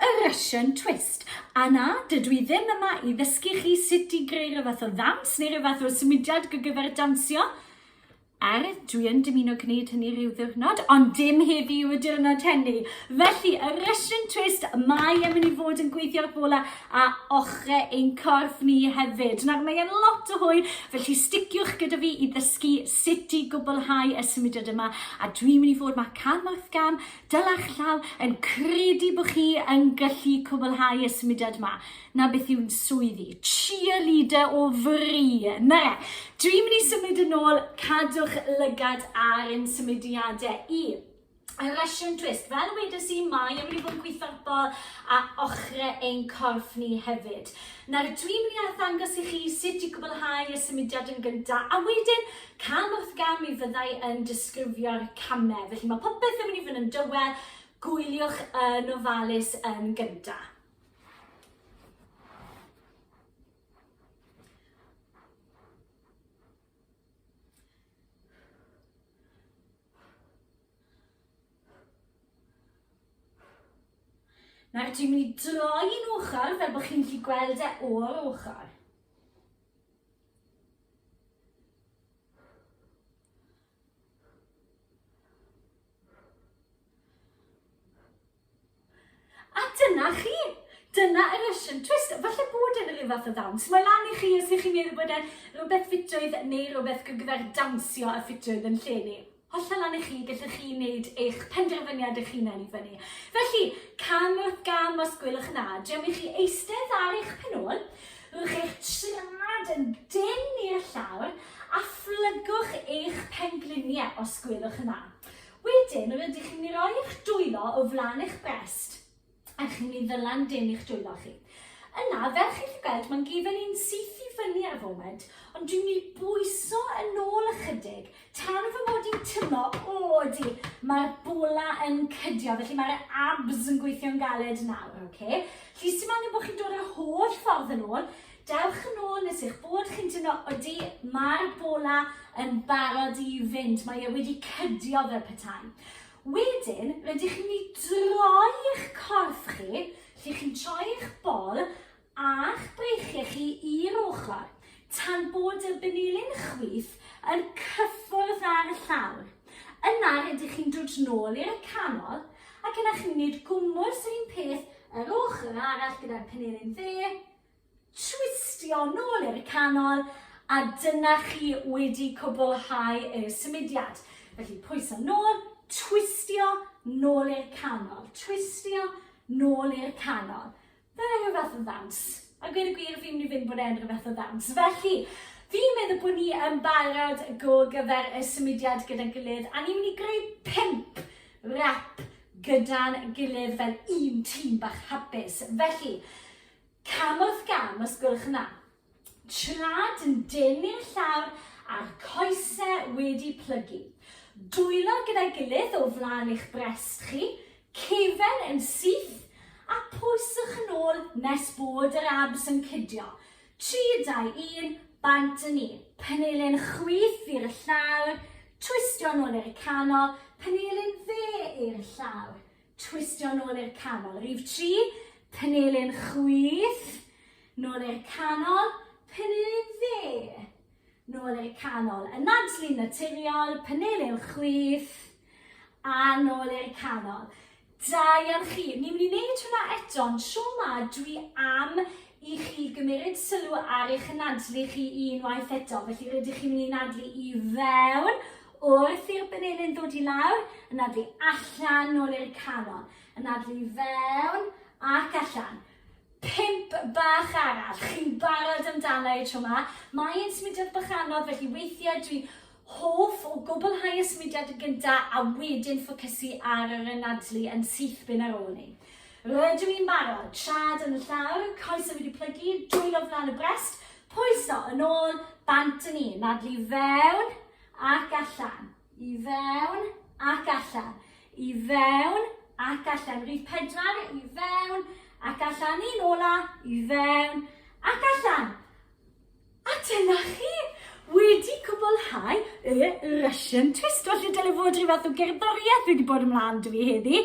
Y Russian Twist. A na, dydw i ddim yma i ddysgu chi sut i greu rhyw fath o ddawns neu rhyw fath o symudiad gyda gyfer dawnsio. Er, dwi yn dymuno gwneud hynny rhyw ddiwrnod, ond dim heddi yw y diwrnod hynny. Felly, y Russian Twist, mae yn mynd i fod yn gweithio'r bola a ochre ein corff ni hefyd. Nawr, mae e'n lot o hwyl, felly sticiwch gyda fi i ddysgu sut i gwblhau y symudiad yma. A dwi'n mynd i fod ma cam wrth gam, Dylech llaw yn credu bod chi yn gallu cwblhau y symudiad yma. Na beth yw'n swyddi. Cheerleader o fri. Na. Dwi'n mynd i symud yn ôl, cadwch lygad ar ein symudiadau i. A Russian twist. Fel wedes i, mae yn mynd i fod yn gweithio'r bol a ochrau ein corff ni hefyd. Nawr, dwi'n mynd i arddangos i chi sut i gwblhau y symudiad yn gyntaf, a wedyn Cam wrth gam mi fyddai yn disgrifio'r camau, felly mae popeth yn mynd i fod yn dywel, gwyliwch yn ofalus yn gyntaf. Nawr dwi'n mynd i droi yn ochr fel bod chi'n gallu gweld e o'r ochr. A dyna chi! Dyna y Russian twist. Falle bod e'n rhyw fath o ddawns. Mae lan i chi os ych chi'n meddwl bod e'n rhywbeth ffitrwydd neu rhywbeth gyfer dawnsio a ffitrwydd yn lle ni. Hollol lan i chi, gellwch chi wneud eich penderfyniad eich hunain i fyny. Felly, cam wrth gam os gwelwch yn dda, dewch chi eistedd ar eich penôl, rhowch eich trad yn dyn i'r llawr a phlygwch eich pengliniau os gwelwch yn dda. Wedyn, rydych chi'n mynd i roi eich dwylo o flaen eich brest. a chi'n mynd i ddylan dim i'ch dwylo chi. Yna, fel chi'n gallu gweld, mae'n gefel i'n syth i fyny ar y foment, ond dwi'n mynd i bwyso yn ôl ychydig, tan fy mod i'n tymo, o, di, mae'r bola yn cydio, felly mae'r abs yn gweithio'n galed nawr, oce? Okay? Felly, sy'n angen bod chi'n dod yr holl ffordd yn ôl, dewch yn ôl nes eich bod chi'n tyno, oeddi, mae'r bola yn barod i fynd, mae e wedi cydio fel petai. Wedyn, rydych chi'n mynd i droi eich corff chi, lle chi'n troi eich bol a'ch breichiau chi i'r ochr, tan bod y benilyn chwith yn cyffwrdd â'r llawr. Yna, rydych chi'n dod nôl i'r canol, ac yna chi'n mynd gwmws yr un peth yr ochr arall gyda'r penilyn dde, Twistio nôl i'r canol a dyna chi wedi cwblhau y symudiad. Felly pwyso nôl, twistio nôl i'r canol, twistio nôl i'r canol. Dyna rhyw fath o ddawns. A gweud y gwir, fi'n mynd i fynd bod e'n rhyw fath o ddawns. Felly, fi'n meddwl bod ni yn barod go gyfer y symudiad gyda'n gilydd a ni'n mynd i greu pimp rap gyda'n gilydd fel un tîm bach hapus. Felly, Cam wrth gam, os gwelwch yn dda. Tra dyn denu'r llawr a'r coesau wedi plygu. Dwylo gyda'i gilydd o flaen eich brest chi, cefen yn syth, a pwyswch yn ôl nes bod yr abs yn cydio. 3, 2, 1, bant â ni. Panelin chwith i'r llawr, twistio yn ôl i'r canol, panelin dde i'r llawr. Twistio nôl i'r canol. Rhif tri, panelun chwith. Nôl i'r canol, panelun dde. Nôl i'r canol. Yn nadlu'n naturiol, panelun chwith. A nôl i'r canol. Da iawn chi. Ni'n mynd i wneud hwnna eto, ond tro ma dwi am i chi gymryd sylw ar eich nadlu chi unwaith eto. Felly rydych chi'n mynd i nadlu i fewn Wrth i'r benelin ddod i lawr, anadlu allan nôl i'r canol. Anadlu i fewn ac allan. Pump bach arall. Chi'n barod amdana i tro ma. Mae yn symudiad bach anodd, felly weithiau dwi'n hoff o gwblhau y symudiad yn gynta a wedyn ffocysu ar yr anadlu yn syth bin ar ôl ni. Rydw i'n barod, trad yn y llawr, coesau wedi plygu, dwylo flan y brest, pwyso yn ôl, bant yn un, nadlu fewn, ac allan, i fewn ac allan, i fewn ac allan. Rhif pedwar, i fewn ac allan. Un ola, i fewn ac allan. A dyna chi wedi cwblhau y Russian twist. Felly dyle fod rhyw fath o gerddoriaeth wedi bod ymlaen dwi heddi.